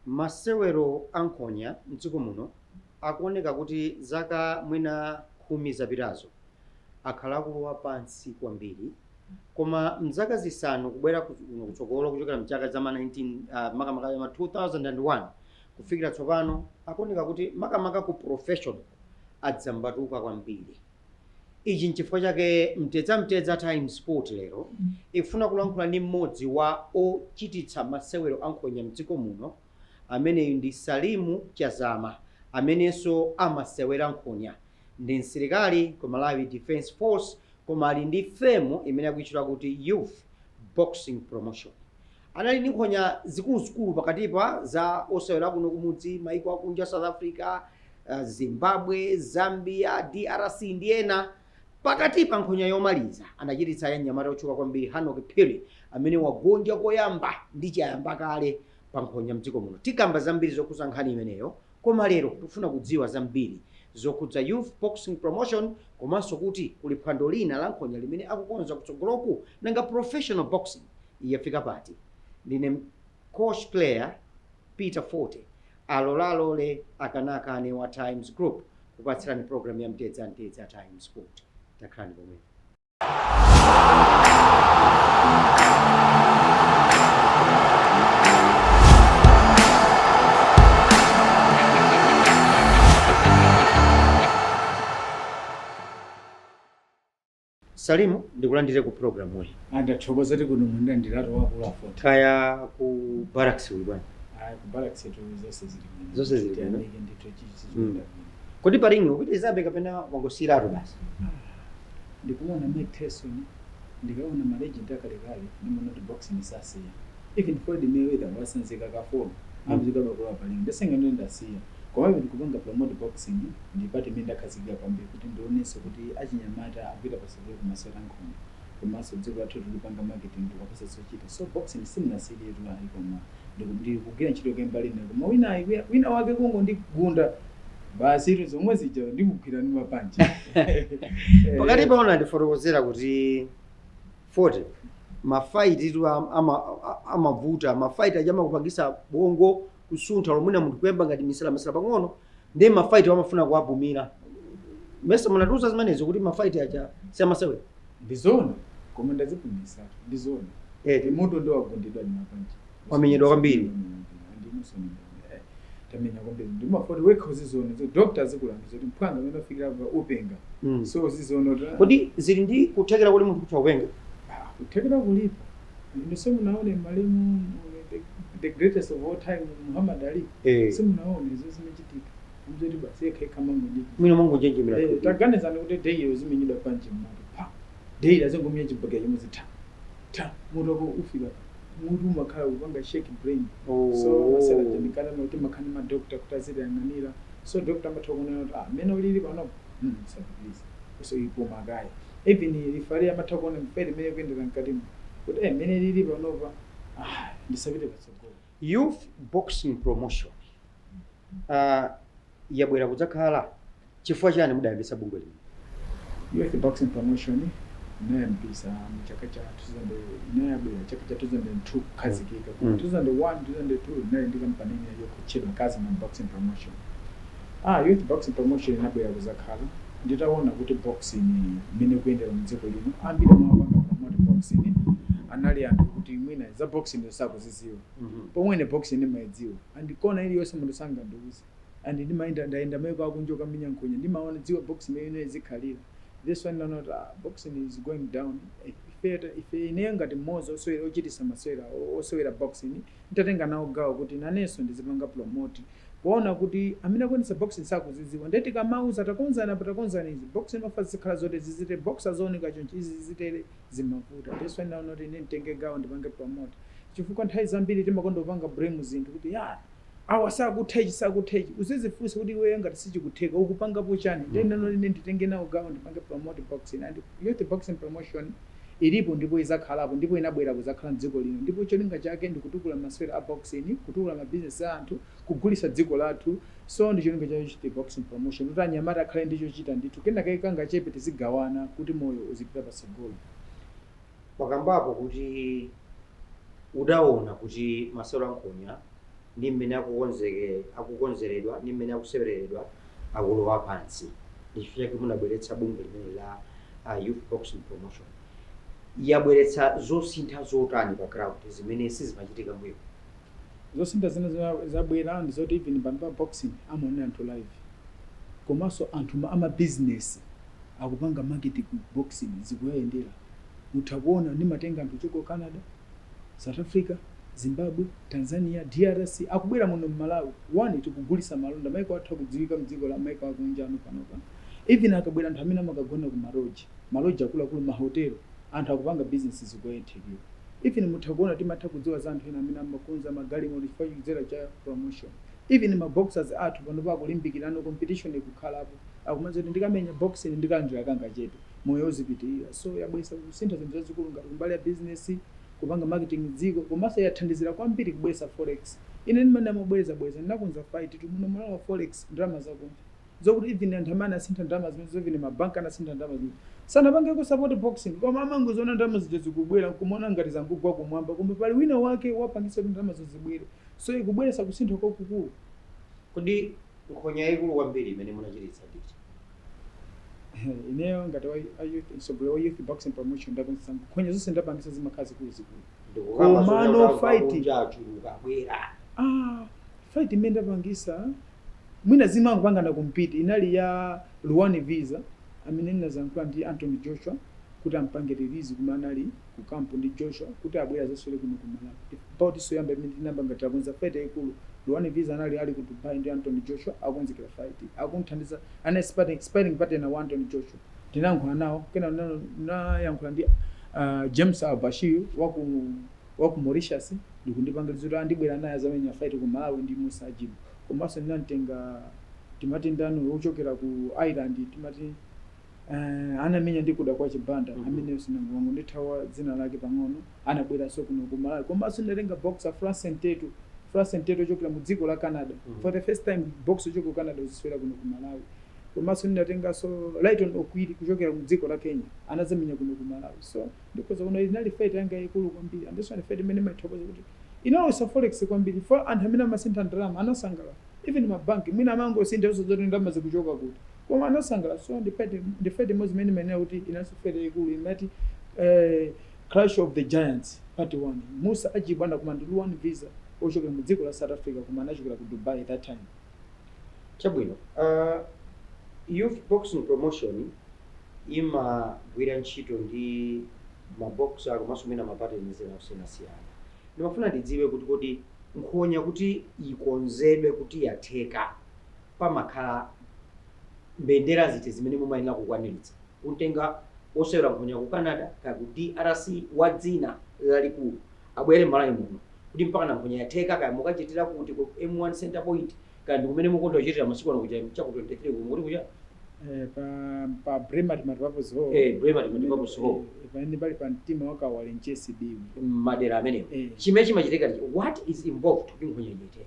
Masewero a nkhonya m'dziko muno akuoneka kuti zaka mwina khumi zapitazo akhala akulowa pansi kwambiri. koma mzaka zisanu kubwera kuno kutsogolo kuchokera mchaka cha ma 19 uh, makamaka ya ma 2001 kufikira tsopano akuoneka kuti makamaka ku professional adzambatuka kwambiri ichi nchifukwa chake mtedza mtedza times sport lero ikufuna kulankhula ndi mmodzi wa ochititsa masewero ankhonya mdziko muno ameneyu ndi salimu chazama amenenso amasewera nkhonya ndi msilikali ku malawi defence force koma ali ndi firm imene akuitchula kuti youth boxing promotion anali ndi nkhonya zikuluzikulu pakatipa za osewera kuno kumudzi maiko akunja south africa uh, zimbabwe zambia drc ndi ena pakatipa nkhonya yomaliza anachititsa ya mnyamata otchuka kwambiri hanok phiri amene wagonja koyamba ndi chiyambireni pa nkhonya mdziko muno tikamba zambiri zokhuza nkhani imeneyo Koma lero tikufuna kudziwa zambiri zokhudza Youth Boxing Promotion komanso kuti kuli phwando lina la nkhonya limene akukonza kutsogoloku? Nanga professional boxing yafika pati? Ndine Coach Player Peter Fote, alola alole akana akane wa Times Group kupatsirani program ya Mtedza Mtedza Times Sport. Takhalani pomwepo. Salimu, ndikulandire ku program yi. Ah, ndathokoza kuti mundilandiratu akulu a Fote. Kaya ku barracks kuli bwanji? Ah, ku barracks tu zonse zili bwino. Zonse zili bwino. Tiyamike ndithu chichi Mm. chikuenda bwino. Kodi pa ring upitirizabe kapena wangosiyiratu basi? Ndikaona Mike Tyson ndikaona ma legend akalekale ndimaona kuti boxing sasiya even Floyd Mayweather watsanzika ka 4 akuzikabe kulowa pa ring nde sindinganene ndasiya komabe ndikupanga promote boxing ndi part imene ndakhazikika kwambiri kuti ndionetsetse kuti achinyamata akupita patsogolo kumasewero ankhonya komanso dziko lathu tikulipangira marketing tikuwapatsa zochita so boxing sindinasiyiretu ayi koma Ndiku ndikugwira ntchito kumbali ina koma wina ayi wina wake kungondigunda basi ndi zomwe zija ndikugwira ndi mapanchi pakatipa wina wandifotokozera kuti Fote mafaiti tu am- ama- a- amavuta mafaiti aja amakupangisa bongo kusuntha lomwina munthu kuyamba ngati misalamisala pang'ono ndiye mafaiti amafuna kuwapumira paja munatiuza zimenezo kuti mafaiti aja siamasewera ndizona koma ndazipumisa ndizona eti munthu ndi wogundidwa ndi mapanchi Wamenyedwa kwambiri. tamenya kwambiri ndi mafoti wekha uzizona zo doctor zikulangiza kuti mphwanga mmene afikira pa upenga Mm. so uzizona kuti kodi zili ndi kuthekera kuti munthu kutha kupenga kuthekera kulipo Inu simunaone malemu the greatest of all time Muhammad Ali eh. simunaone izo zimachitika ndi zoti basi yekha yekha mangonyeji mwina mangonjenjemera eh, taganizani kuti daily uzimenyedwa panchi mmutu daily azingomenya chibagera chimwe zitha ta mutu wako ufika mutu umakhala kupanga shake brain oh. so masewera ofunikana kuti mukhale ndi madokta kuti azitiyang'anira so dokta amatha kuona kuti ah mene ulili panopo mm musapitilize funso ili koma kaya even lifale amatha kuona mpere mmene ikuyendera mkatimo kuti eh mmene lili panopa ah ndisapite patsogolo youth boxing promotion uh, yabwera kudzakhala chifukwa chani mudayambitsa bungwe lino youth boxing promotion inayambisa mu chaka cha 2000 inayabwera chaka cha 2002 kukhazikika Mm. 2001 2002 ndinali ndi kampani imene yotchedwa kazima boxing promotion A youth boxing promotion inabwera kuzakhala, nditaona kuti boxing mmene ikuyendera mdziko muno ambiri omwe amapanga promote boxing anali anthu okuti mwina za boxing zo osakuziziwa pomwe ine boxing ndimaidziwa and kona iliyonse munthu sangandiuze and ndimayenda ndayenda maiko akunja kukamenya nkhonya ndimaona dziwa boxing mmene imayenera izikhalira that's why naona kuti ah boxing is going down Eh, ife ta- ife ineyo ngati mmodzi osewera ochitisa masewera o- osewera boxing ntatenga nawo gawo kuti nanenso ndizipanga promote Poona kuti amene akuonetsa boxing sakuzidziwa ndiye tikamauza takonzani apa takonzani izi boxing imafuna zizikhala zotere zizitere boxer azioneka chonchi izi zizitere zimavuta that's why naona kuti ine nditenge gawo ndipange promote chifukwa nthawi zambiri timakonda kupanga blame zinthu kuti ya awa sakutha ichi sakutha ichi uzizifunsa kuti iweyo ngati sichikutheka ukupangapo chani ndiye naona kuti ine nditenge nawo gawo ndipange promote boxing and youth boxing promotion Ilipo ndipo izakhalapo ndipo inabwera kuzakhala mdziko lino ndipo cholinga chake ndikutukula masewera a boxing, kutukula ma business a anthu, kugulisa dziko lathu so ndicholinga cha youth boxing promotion kuti anyamata akhale ndi chochita ndithu kenakake kangachepe tizigawana kuti moyo uzipita patsogolo. Wakambapo kuti udaona kuti masewera a nkhonya ndi mmene akukonzeke akukonzeredwa ndi mmene akusewereredwa akulowa pansi ndi chifukwa chake munabweretsa bungwe limeneli la uh, youth boxing promotion yabweretsa zosintha zotani pa ground zimene sizimachitika mbuyo zosintha zimene za- zabwera ndi zoti even pano pa boxing amaonera anthu live komanso anthu ma- amabizinesi akupanga market ku boxing zikuyendera mutha kuona ndimatenga anthu kuchoka ku Canada, South Africa, Zimbabwe, Tanzania, drc akubwera muno mmalawi one tikugulisa malonda maiko athu akudziwika mdziko la maiko akunjano panopa even akabwera anthu amene amakagona ku ma lodge ma lodge akuluakulu ma hotel anthu akupanga business zikuwayendera even mutha kuona timatha kudziwa za anthu ena amene amakonza ma galimoto chifukwa chikudzera cha promotion even ma boxers athu panopa akulimbikirano competition ikukhalapo akumadziwa kuti ndikamenya boxing ndikalandira kangachepe moyo uzipitilira. So yabweretsa kusintha zinthu zazikulu ngati kumbali ya business, kupanga marketing dziko, komanso yathandizira kwambiri kubweretsa forex. Ine ndimanena mobwereza bwereza, ndinakonza fight tu muno Malawi forex ndalama zakunja. Zokuti even anthu amene anasintha ndalama zimenezo, even ma bank anasintha ndalama zimenezo, sanapangeko support boxing koma amangoziona ndalama zija zikubwera nkumaona ngati zangogwa kumwamba koma pali wina wake wapangitsa kuti ndalamazo zibwere. So ikubweretsa kusintha kwakukulu. Kodi nkhonya yaikulu kwambiri imene munachititsa ndi iti? ineyo ngati wa a youth mtsogoleri wa youth boxing promotion ndakonzesa nkhonya zonse ndapangisa zimakhala zikuluzikulu Komano fight ah, fight imene ndapangisa mwina zimangopangana compete inali ya Ruann Visser amene ndinazayankhula ndi anthony joshua kuti ampange release kumene anali ku camp ndi Joshua kuti abwere azaswere kuno ku Malawi ndi bout so yoyamba imene tinayamba ngati takonza fight yayikulu Ruann Visser anali ali ku Dubai ndi Anthony Joshua akukonzekera fight akumthandiza anali sparring, sparring partner wa Anthony Joshua ndinayankhula nawo kena ndinayankhula ndi uh, James Ali Bashir wa ku wa ku Mauritius ndikundipanga release kuti andibwera naye azamenya fight ku Malawi ndi Musa Ajibu komanso ndinamtenga timati ndani wochokera ku Ireland timati Uh, anamenya ndi Kudakwashe Banda mm -hmm. ameneyo wangondithawa dzina lake pang'ono anabweranso kuno ku Malawi komanso ndatenga boxer Francy Ntetu Francy Ntetu ochokera mu dziko la Canada mm -hmm. for the first time boxer ochokera ku Canada kuzaswera kuno ku Malawi komanso ndinatenganso Rayton Okwiri kuchokera mu dziko la Kenya anazamenya kuno ku Malawi so ndikhoza kuona inali fight yanga yaikulu kwambiri and so ndi fight imene ndimathokoza kuti inalowesa forex kwambiri for anthu amene amasintha ndalama anasangalala even mabanki mwina amangosintha osadziwa kuti ndalama zikuchoka kuti Koma anasangala so ndi fight ndi fight imodzi imene ndimanena kuti inalinso fight yaikulu imati eh, Clash of the Giants part 1 Musa Ajibu anakumana ndi Ruann Visser ochokera mu dziko la South Africa koma anachokera ku Dubai that time. Chabwino uh, Youth Boxing Promotion imagwira ntchito ndi ma boxer komanso mwina ma partners ena osiyanasiyana. Ndimafuna ndidziwe kuti kodi nkhonya kuti ikonzedwe kuti yatheka pamakhala mbendera ziti zimene mumayenera kukwaniritsa? Kumtenga osewera nkhonya ku Canada kaya ku drc wa dzina lalikulu abwere m'Malawi muno kuti mpakana nkhonya yatheka kaya mukachitira kuti ku M1 Centre Point kaya ndikumene mukonda kuchitira masiku ano kuja cha ku 23 uko mukuti kuchani? Eh, pa, pa Bremer Multipurpose Hall. Eh, Bremer Multipurpose Hall. Eh, eh, pamene pali pa mtima wa Kawale Nchesi Biwi. Madera amenewo. Eh. Chimene chimachitika ndi what is involved kuti nkhonya ichitike.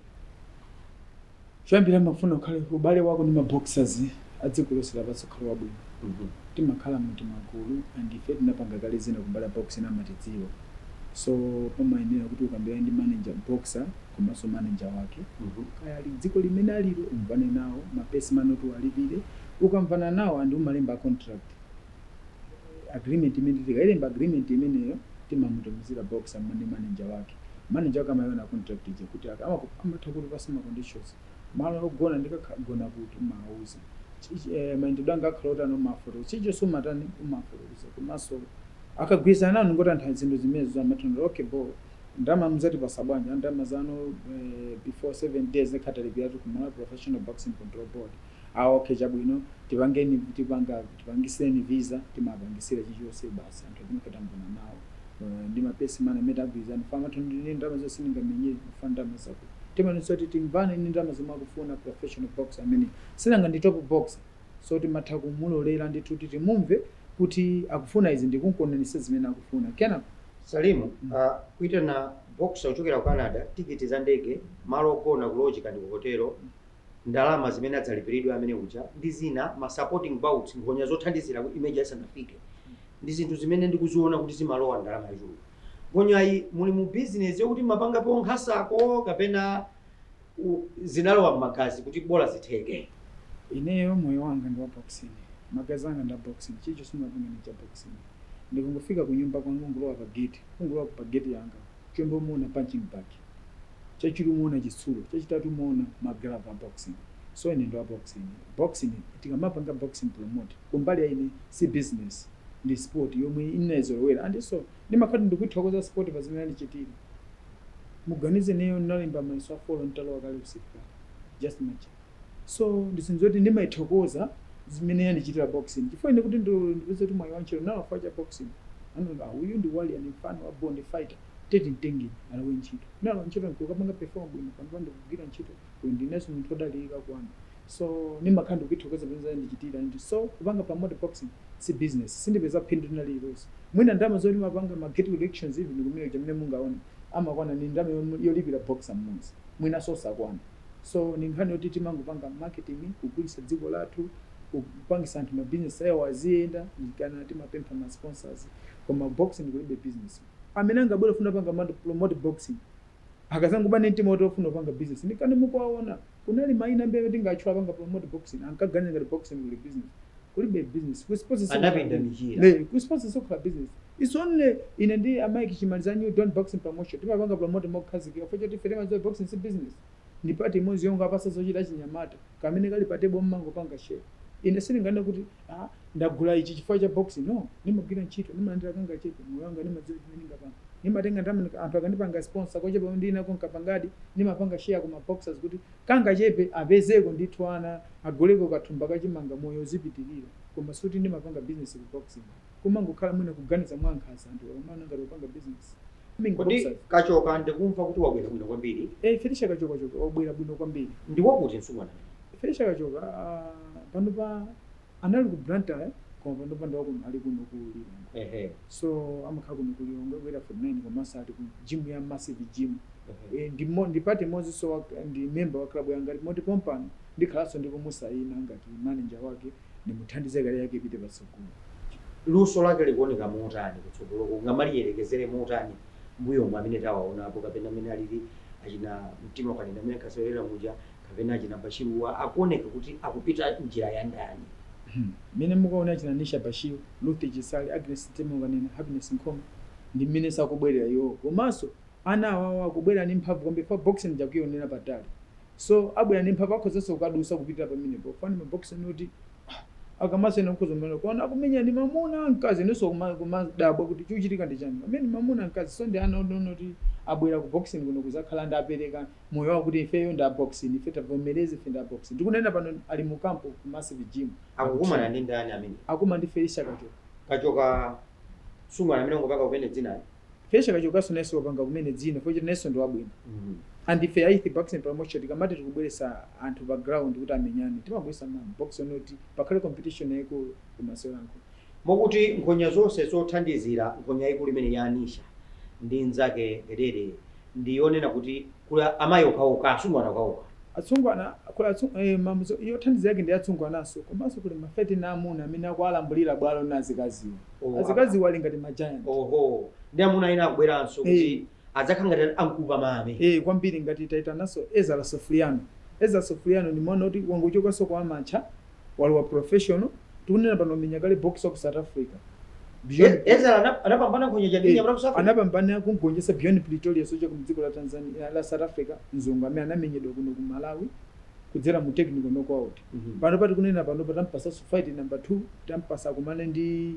Choyambira ndimafuna ukhale ubale wako ndi ma boxers a dziko lonse lapansi ukhale wabwino. Timakhala mu timagulu and ife tinapanga kale zina ku mbali ya boxing amatidziwa. So pamayenera kuti ukambirane ndi manager, boxer komanso manager wake. Kaya ali dziko limene alilo umvane nawo, ma purse money oti uwalipire. Ukamvana nawo and umalemba contract. agreement imene tikailemba agreement imeneyo timamutumizira boxer mma ndi manager wake manager wake amaiona contract ija kuti aka amaku- amatha kutipasa ma conditions malo ogona ndikagona kuti umawauza Chichi- eh, mayendedo anga akhala otani umafotokoza chichonse umatani umafotokoza komanso akagwirizana nanu ngotantha zinthu zimenezo amathandira okay bo ndama muzatipasa bwanji Ah, ndama zanu eh, before 7 days ndikhala nditalipiratu ku Malawi professional boxing control board ah okay chabwino tipangeni tipanga Tipangiseni visa timawapangisila chilichonse basi anthu amene ife tamvana nawo ndi ma purse money amene tagwilizana chifukwa amatha kuti ndine ndalama zoti sindingamenyele chifukwa ndalama zakuti timaonetsetsa kuti timvane ndi ndalama zomwe akufuna professional boxer ameneyo sinanga ndi top boxer so timatha kumulolera ndithu kuti timumve kuti akufuna izi ndikumkwaniritsa zimene akufuna kenako Salim mm. uh, kuitana boxer kuchokera ku Canada tikiti za ndege malo ogona ku lodge kaya ndi ku hotelo mm. ndalama zimene adzalipiridwe amene uja ndi zina ma supporting bouts nkhonya zothandizira kuti main ija isanafike ndi zinthu zimene ndikuziona kuti zimalowa ndalama yochuluka nkhonyayi muli mu business yokuti mumapangapo nkhasako kapena u- zinalowa m'magazi kuti bola zitheke ineyo moyo wanga ndi wa boxing magazi anga ndi a boxing chichonse ndimapanga ndi cha boxing ndikungofika ku nyumba kwanga kungulowa pa gate kungulowa pa gate yanga choyamba umaona punching bag chachiwiri umaona chitsulo chachitatu umaona ma glove a boxing so ine ndi wa boxing boxing tikamapanga boxing promote kumbali ya ine si business ndi sport yomwe ndinaizolowera andinso ndimakhala ndikuithokoza sport pa zimene yandichitira muganize ineyo ndinalemba mayeso a folo nditalowa kale usilikali just imagine so ndi zinthu zoti ndimaithokoza zimene yandichitira boxing chifukwa ine kuti ndo ndipeze kuti mwayi wantchito ndinalowa chifukwa cha boxing anaona ah, uyu ndi warrior and mfana wa born fighter tete mtengeni alowe ntchito ndinalowa ntchito nkukapanga perform bwino panopa ndikugwira ntchito uyu ndinenso munthu odalirika kwanu so ndimakhala ndikuithokoza zimene yandichitira and so kupanga promote boxing si business sindipeza phindu lina lililonse mwina ndalama zoti timapanga ma gate collections even kumene kuja mene mungaone amakwana ni ndalama yom- yolipira boxer mmodzi mwinanso osakwana so ndi nkhani yoti timangopanga marketing kugulitsa dziko lathu kupangisa anthu ma business awo aziyenda nchikana timapempha ma sponsors koma boxing kulibe business amene angabwere kufuna panga matu- promote boxing akazangobwera ndi mtima woti ofuna kupanga business nchikana mukuwaona kunali maina ambiri amene tingatchule kupanga promote boxing ankaganiza ngati boxing kuli business kulibe business ku sports anapinda michira. Nde ku sports sikukhala business Its only ine ndi a Mike Chimaliza a New Dawn Boxing Promotion timapanga promote mokhazikika chifukwa choti ife timadziwa boxing si business. Ndi part imodzi yongowapatsa zochita achinyamata kamene kali pa table mmangopanga share. Ine sindinganene kuti ah ndagula ichi chifukwa cha boxing no. Ndimagwira ntchito ndimalandira kangachepe moyo wanga ndimadziwa chimene ndingapanga. Ndimatenga ndalama nika- anthu akandipanga sponsor kochepa komwe ndili nako nkapangadi ndimapanga share ku ma boxers kuti kangachepe apezeko ndithu ana aguleko kathumba ka chimanga moyo uzipitilira. Koma sikuti ndimapanga business ku boxing. kumangokhala mwina kuganiza mwankhaza anthu akamaona ngati akupanga business Kodi Kachoka ndikumva kuti wabwera bwino kwambiri Eh, Felicia Kachoka wabwera bwino kwambiri ndi wakuti msungwana Felicia Kachoka ah, panopa anali ku Blantyre koma panopa ndi wa kuno ali kuno ku Lilongwe ehe so amakhala kuno ku Lilongwe ku Area 49 komanso ali ku gym ya massive gym ehe. Eh, ndi part imodzinso ndi member wa club yanga moti pompano ndikhalanso ndikumusayina ngati manager wake nimuthandize career yake ipite patsogolo. Luso lake likuoneka motani kutsogoloko, ungamaliyerekezere motani mbuyomu amene tawaonapo kapena amene alili achina Mtimaukanena amene ankasewerera muja kapena achina Bashiru akuoneka kuti akupita njira ya ndani? Mmene mukuwaonera achina Anisha Bashiru, Ruth Chisale, Agnes Mtimaukanena, Happiness Nkhoma ndi mmenenso akubwerera iwowo komanso ana awawa akubwera ndi mphamvu kwambiri chifukwa boxing ija akuionera patali. So abwera ndi mphamvu akhozanso kukadusa kupitila pamenepo chifukwa ndi ma boxer oti akamamenyana mukhoza kumana kuona akumenyana ndi mamuna mkazi inunso kuma- kumadabwa kuti chikuchitika ndi chani amene mamuna mkazi so ndi ana onena oti abwera ku boxing kuno kuzakhala ndi kupereka moyo wawo kuti ifeyo ndi a boxing ife tavomereza ife ndi a boxing ndikunena pano ali mu camp ku massive gym akukumana ndi ndani amene akumana ndi Felicia Kachoka msungwana amene wangopanga kumene dzina Felicia Kachokaso nayeso wapanga kumene dzina chifukwa choti nayeso ndi wabwino and ife a youth boxing promotion tikamati tikubweresa anthu pa ground kuti amenyane timabweresa ma boxer onena kuti pakhale competition yaikulu ku masewero a nkhonya. Mukuti nkhonya zonse zothandizira nkhonya yaikulu imeneyi ya Anisha ndi nzake Gedede ndi yonena kuti kuli amayi okhaokha, asungwana okhaokha. Atsungwana, kuli atsu ee imodzi yothandiza yake ndi atsungwananso komanso kuli ma fight ena aamuna amene akuwalambulira bwalo azikaziwo. Oh, apa. Azikaziwo ali ngati ma giant. Oho, ndi amuna ena akubweranso kuti Ee. adzakhala ngati a nkupamame. Ee, kwambiri ngati taitananso Ezara Sofuriano. Ezara Sofuriano ndi mwana woti wangochokanso ku amateur. walowa professional tikunena pano wamenya kale box wa ku south africa Beyond- E- Ezra ana- anapambana nkhonya ya dziko la South Africa. anapambana kumgonjesa beyond pretoria osati ku dziko la tanzania la south africa mzungu amene anamenyedwa kuno ku malawi kudzera mu technical knockout Mhm. panopa tikunena panopa tampasa fight number 2 tampasa kumana ndi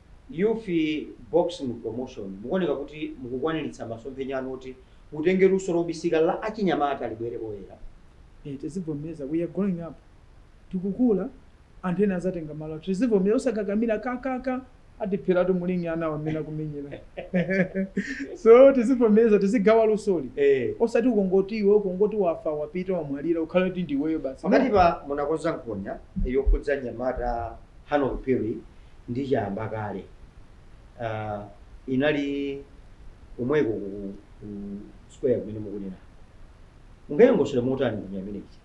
Youth Boxing Promotion mukuoneka kuti mukukwaniritsa masomphenya anu oti mutenge luso lobisika la achinyamata libwere poyera. Eeh tizivomereza we are growing up tikukula anthu ena azatenga malo athu tizivomereza osakakamira ka ka ka atipheratu mu ring anawa mmene akumenyera so tizivomereza tizigawa lusoli Eeh. osati ukangoti iwe ukangoti wafa wapita wamwalira ukhale kuti ndiweyo basi no. Pakatipa munakonza nkhonya yokhudza mnyamata Hanok Phiri ndi Chayamba kale, uh, inali komweko ku, ku, ku square kumene mukunenako. Mungayilongosole motani nkhonya imene ija?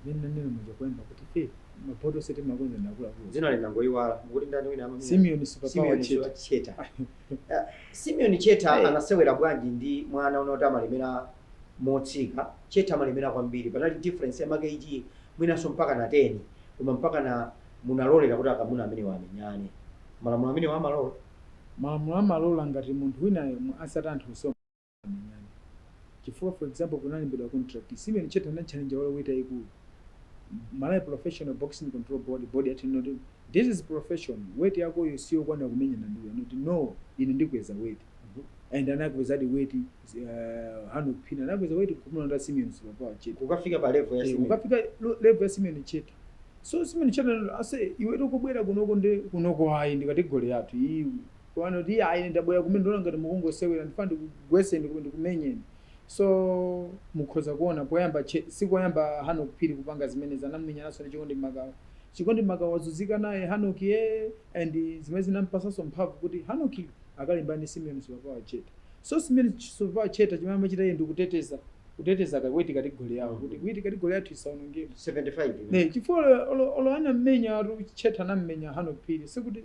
Mmene nanena muja poyamba kuti, hey, mabout onse timakonza ndi akuluakulu. Dzina lina ndangoyiwala, mukuti ndani wina amamenya? Simeon Superpower Cheta. Simeon Cheta. uh, Simeon Cheta hey. anasewera bwanji ndi mwana woti amalemera motsika? Cheta amalemera kwambiri, panali difference ya ma kg mwinanso mpaka na 10. koma mpakana munalolera kuti akamuna amenewa amenyane? Malamulo amenewa amalola? Malamulo amalola ngati munthu winayo asanati anthu onsewa amenyane. Chifukwa for example kunalembedwa contract, Simeon Cheta anatchalenja wa weight yayikulu, Malawi Professional Boxing Control Board, board yati no, this is profession, weight yakoyo siyokwanira kumenyana ndi uyu, anati no, ine ndikweza weight. Mhm. and anakwezadi weight uh, Hanok Phiri anakweza weight kumulonda Simeon Superpower Cheta kukafika pa level ya Eh, Simeon. ukafika lo- level ya Simeon Cheta so Simeon Cheta anati, ase iwe ukubwera kunoko ndi kunoko ayi ndi kategori yathu iyi pano ati ayi ine ndabwera kumene ndona ngati mukungosewera ndifuna ndikugweseni kumene ndikumenyeni so mukhoza kuona poyamba Che- si koyamba Hanok Phiri kupanga zimenezi anamenyananso ndi Chikondi Makawa Chikondi Makawa wazuzika naye Hanok ye and zimene zinampasanso mphamvu kuti Hanok akalimbane ndi Simeon Superpower Cheta. So Simeon Superpower Cheta chimene amachita iye ndikuteteza kuteteza ka weight kategori yawo mm. kuti weight kategori yathu isaonongeke 75 ne chifukwa olo olo anamenya ati Cheta anamenya Hanok Phiri sikuti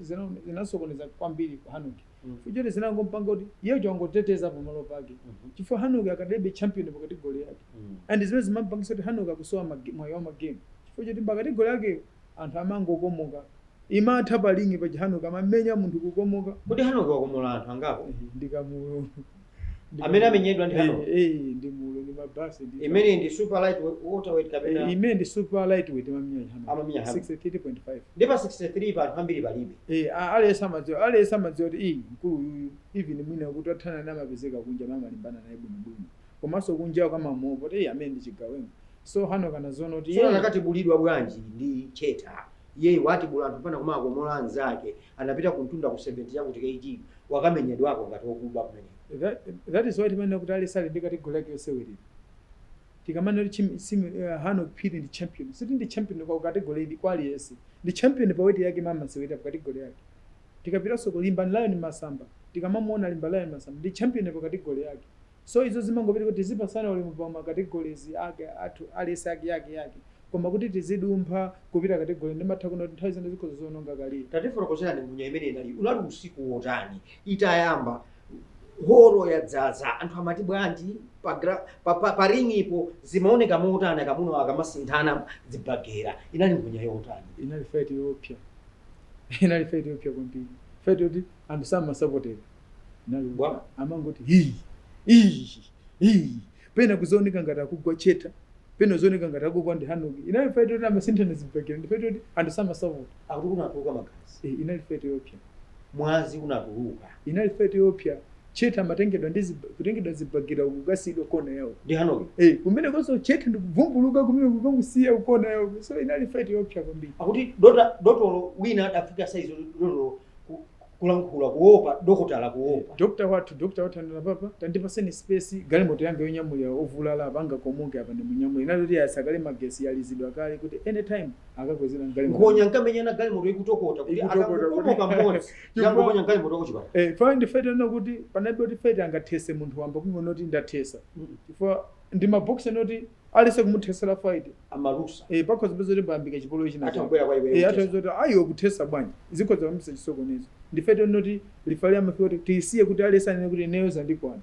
zinasokoneza zina kwambiri kwa Hanok mm. chifukwa choti zinangompanga kuti iye wangoteteza pamalo pake mm -hmm. chifukwa Hanok akadalibe champion pa kategori yake mm. and zimene zimampangisa kuti Hanok akusowa mwayi wa magemu chifukwa choti pa kategori yake Anthu amangokomoka. Imatha pa ring paja Hanok amamenya munthu kukomoka. Kodi Hanok wakomola anthu angapo? Ehe ndi kamulo. Ndi Amene kamulo. amenyedwa ndi Hanok? Eh, eh, ndi mulo ndi mabasi ndi. Imeneyi ndi super light we- welterweight Eh, kapena Imene ndi super lightweight amamenya Hanok. Amamenya Hanok. 63.5. ndi pa 63 pa, anthu ambiri palibe. Eh, a- aliyense amadziwa aliyense amadziwa kuti iyi mkulu uyuyu even mwina kuti athana naye amapezeka kunja amalimbana naye bwinobwino. komaso kunja kumamuopa kuti amene ndi chigawenga so Hanok anaziwona kuti Tsono iyeyi anakatibulidwa bwanji ndi Cheta? Iyeyu watibula anthu mpana kumawakomola anzake. Anapita kumtunda ku 70 chakuti kg wakamenyedwako ngati okuba kumeneko. that that is why timanena kuti aliyense ali ndi category yake yosewelera tikamanena kuti chim, sim, uh, Hanok Phiri ndi champion sikuti ndi champion kwa category ili kwa aliyense ndi champion pa weight yake imene amasewelera pa category yake tikapitaso kwa Limbani Lion Masamba tikamamuona Limbani Lion Masamba ndi champion pa category yake So izo zimangopita kuti tizipatsana ulemu pa ma categories ake athu aliyense ake ake ake koma kuti tizidumpha kupita ma categories ndimatha kuona kuti nthawi zina zikhoza kuononga career. Tatifotokozerani nkhonya imene inali unali usiku wotani itayamba holo yadzaza anthu amati bwanji pa, gra- pa, pa, pa ringipo zimaoneka motani akamunawo akamasinthana zibagera inali nkhonya yotani inali fight yoopsa inali fight yoopsa kwambiri fight yoti anthu samasapotera, nanga bwa amangoti hii hii hii pena kuziwoneka ngati akugwa cheta pena ziwoneka ngati akugwa ndi Hanok inali fight yoti amasinthana zibagera ndi fight yoti anthu samasapota akuti kunatuluka magazi e, inali fight yoopsya mwazi unatuluka inali fight yoopsya cheta amatengedwa ndi zib- kutengedwa zibagira kukasiyidwa kona yawo ndi Hanok e, kumenekonso cheta ndikuvumbuluka kumeneko kukamusiya kukona yawo so inali fight yoopsya kwambiri akuti dota dotolo wina adafika size dotolo ku- kulankhula kuopa dokotala kuopa dokta wathu dokta wathu anena apapa tandipaseni space galimoto yanga yonyamulira ovulala apa angakomoke apa ndimunyamule inali kuti yayatsa kale magetsi yalizidwa kale kuti anytime akakwezedwa mgalimoto nkhonya akamenyana galimoto ikutokota kuti Ikutokota kuti- akakomoka mmodzi Chifukwa- yangoponya galimoto kuchipatala Eh, pamene ndi fight ina kuti panalibe kuti fight angathese munthu wamba kungonena kuti ndathesa chifukwa ndi maboxer oti aliyense kumuthesela fight amalusa eh pakhoza kupezeka kuti payambika chipolowe china atha kubwera kwa iwe eh atha kuti ayo kuthesa bwanji zikhoza kuyambitsa chisokonezo ndi fight yoti referee amafika kuti tisiye kuti aliyense anene kuti ineyo zandikwana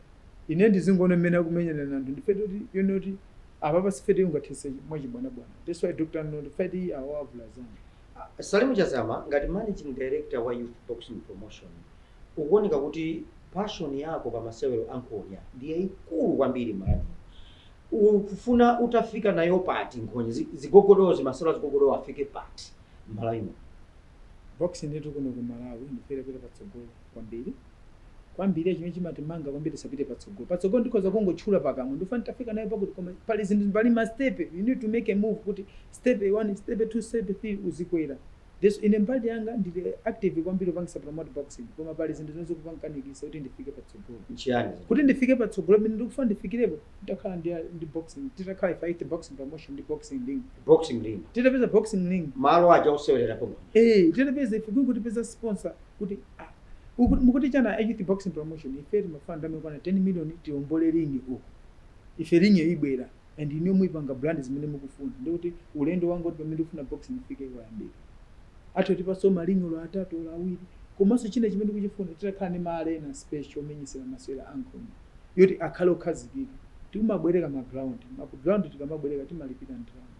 ine ndizingoona mmene akumenyerana anthu ndi fight yoti yonena kuti apapa si fight ungathese mwachibwanabwana that's why dr ananena kuti fight iyi avulazana salimu chazama ngati managing director wa youth boxing promotion ukuoneka kuti passion yako pa masewero ankhonya ndi yayikulu kwambiri mani Ukufuna utafika nayo pati nkhonya zigogodozi masewero azigogodowo afike pati mmalawi muno. Boxing itu kuno ku Malawi ndifuna itapita patsogolo kwambili kwambili chimene chimatimanga kwambili kuti tisapite patsogolo patsogolo ndikhoza kungotchula pakamwa ndikufuna nditafika nayo pakuti koma pali zinthu pali ma step you need to make a move kuti step 1 step 2 step 3 uzikwera Yes, Ine mbali yanga ndili active kwambiri kupangisa promote boxing koma pali zinthu zimene zikupanikanikisa kuti ndifike patsogolo. Nchiyani zinthu? Kuti ndifike patsogolo pamene ndikufuna ndifikirepo nditakhala ndi ndi boxing titakhala ife aYouth Boxing Promotion ndi Boxing Ring. Boxing Ring. Titapeza Boxing Ring. Malo aja osewererapo nkhonya. Eeh titapeza ife kwingoti tipeza sponsor kuti ah uku mukuti chani aYouth Boxing Promotion ife timafuna ndalama zokwana 10 million tiombole ring uko ife ringiyo ibwera. and inuyo muipanga brand zimene mukufuna ndiye kuti ulendo wanga woti pamene ndikufuna boxing ifike wayambika atha kutipaso ma ring olo atatu olo awiri komaso china chimene ndikuchifuna titakhala ndi ma arena special omenyesela masewera ankhonya yoti akhale okhazikika tikumabwereka ma ground ma ground tikamabwereka timalipira ndalama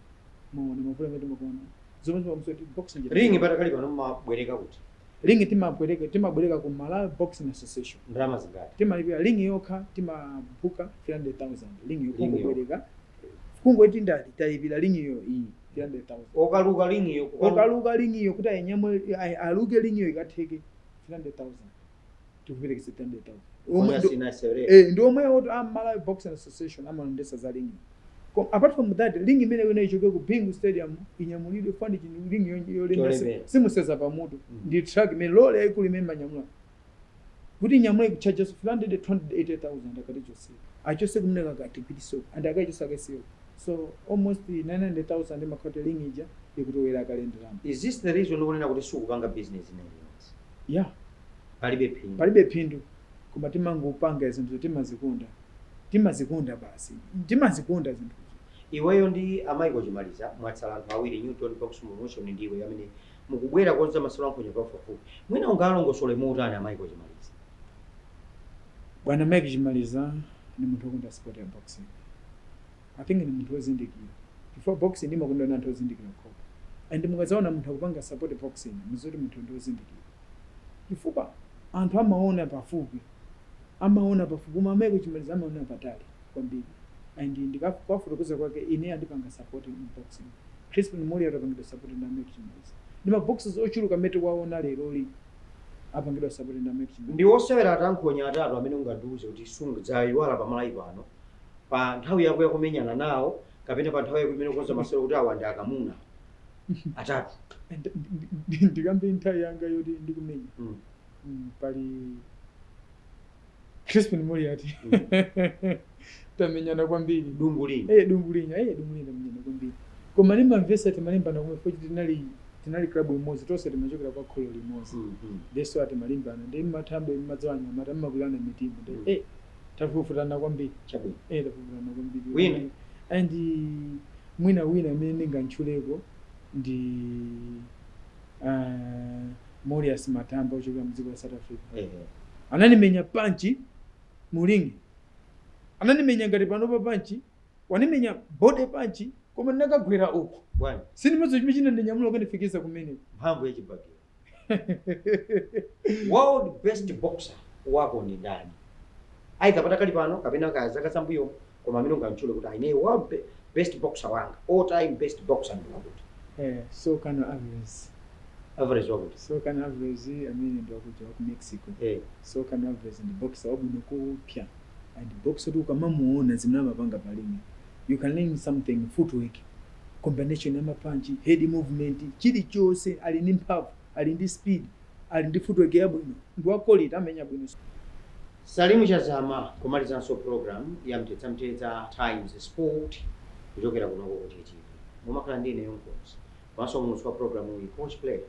mwaona mavuto amene timakumana nawo zomwe zimakhudzanso kuti boxing Ring patakali pano mumabwereka kuti? Ring timabwereka timabwereka ku Malawi Boxing Association. Ndalama zingati? Timalipira ring yokha timabhuka 300,000 ring Ring yokungobwereka. Kungoti ndati talipira ring yo iyi 300,000. Okaluka ring yo kukaluka. Okaluka ring yo kuti ayinyamule ayi- aluke ring yo ikatheke 300,000. tikuperekeso 300,000 omwe Kwanza ndo- sina sere. eh, ndi omwe oti a Malawi Boxing Association amalondesa za ring Kom- apart from that ring imene ino ichoke ku Bingu Stadium inyamulidwe fund chinthu ring yo- yolemera si- Cholemera. simuseza pamutu Mm. ndi truck imene lole yaikulu imene imanyamula kuti inyamule kuchaja 300 280,000 akatichose achose kumeneko akatipititse and akachose akasiye so almost 900,000 ma quote ring ija ikuthera kale ndalama Is this the reason ukunena kuti sukupanga business imeneyi? ya palibe phindu palibe phindu koma timangopanga zinthu timazikonda timazikonda basi timazikonda zinthuzo iweyo ndi a Michael Chimaliza mwatsala anthu awiri New Dawn Boxing Promotions ndi iweyo amene mukubwera kukonza masewero a nkhonya pafupipafupi mwina ungawalongosole motani a Michael Chimaliza? Bwana Mike Chimaliza ndi munthu okonda sport ya boxing. I think ndi munthu wozindikira chifukwa boxing imakondedwa ndi anthu ozindikira okhokha and mukadzaona munthu akupanga support boxing mudziwe kuti munthuyo ndi ozindikira chifukwa anthu amaona pafupi amaona pafupi koma a Mike Chimaliza amaona patali kwambiri and ndikakuwafotokoza kwake ine andipanga support mu boxing Chrispin Moliati wapangidwa support ndi a Mike Chimaliza ndi ma boxers ochuluka amene tikuwaona lerolii apangidwa support ndi a Mike Chimaliza. Ndi osewera ankhonya atatu amene ungandiuze kuti sungadzayiwale pa Malawi pano? pa nthawi yako yakumenyana nawo kapena pa nthawi yako imene ukonza masewera kuti awa ndi akamuna atatu And- ndi- ndi- ndikambe nthawi yanga yoti ndikumenya Mm. Mm, pali crispin moliati tamenyana kwambiri dungu linya Eh, dungu linya eh, dungu linya tamenyana kwambiri koma ndimamvetsa timalimbana komwe futi tinali tinali klabu imodzi tonse timachokera kwa kholo limodzi Mm, mm. ndeso timalimbana ndi mathambo mmadzi wanyamata mmakulana mitima ndi Mm. eh tafufutana kwambiri Chabwino. eh tafufutana kwambiri Wina. and mwina wina amene ndingamtchuleko ndi ah, Morius Matamba ochokera mu dziko la South Africa Ehe. ananimenya panchi mu ring ananimenya ngati panopa panchi wandimenya body panchi koma ndinakagwera uku Bwana, sindimadziwa chimene chinandinyamula kundifikisa kumeneko mphamvu ya chibakera. world best boxer wako ndi ndani either patakali pano kapena kaya zaka zambuyo koma amene ungamtchule kuti ayi ine world be- best boxer wanga all time best boxer ndi wakuti Eh, Saul Canelo Alvarez. Alvarez wakuti Saul Canelo Alvarez amene ndi wakuja wa ku Mexico. eh Saul Canelo Alvarez ndi boxer wabwino kupya. And boxer kuti ukamamuona zimene amapanga pa ring. You can learn something footwork. combination ya mapanchi, head movement, chilichonse ali ndi mphamvu, ali ndi speed, ali ndi footwork yabwino, ndi wa quality amenya bwino. Salim Chazama kumalizanso program ya Mtedza-Mtedza Times Sport kuchokera kuno ku OTA TV. Mumakhala ndi ineyo mkonzi komanso muulutsi wa programuyi Coach Player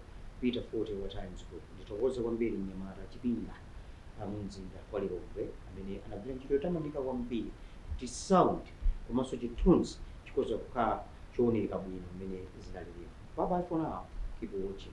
Peter Fote wa Times Group. Ndithokoze kwambiri mnyamata Chipinda. wa mumzinda wa Lilongwe amene anagwira ntchito yotamandika kwambiri kuti sound komanso chithunzi chikhoza kukhala chooneka bwino mmene zinalilimu. Bye bye for now. Keep watching.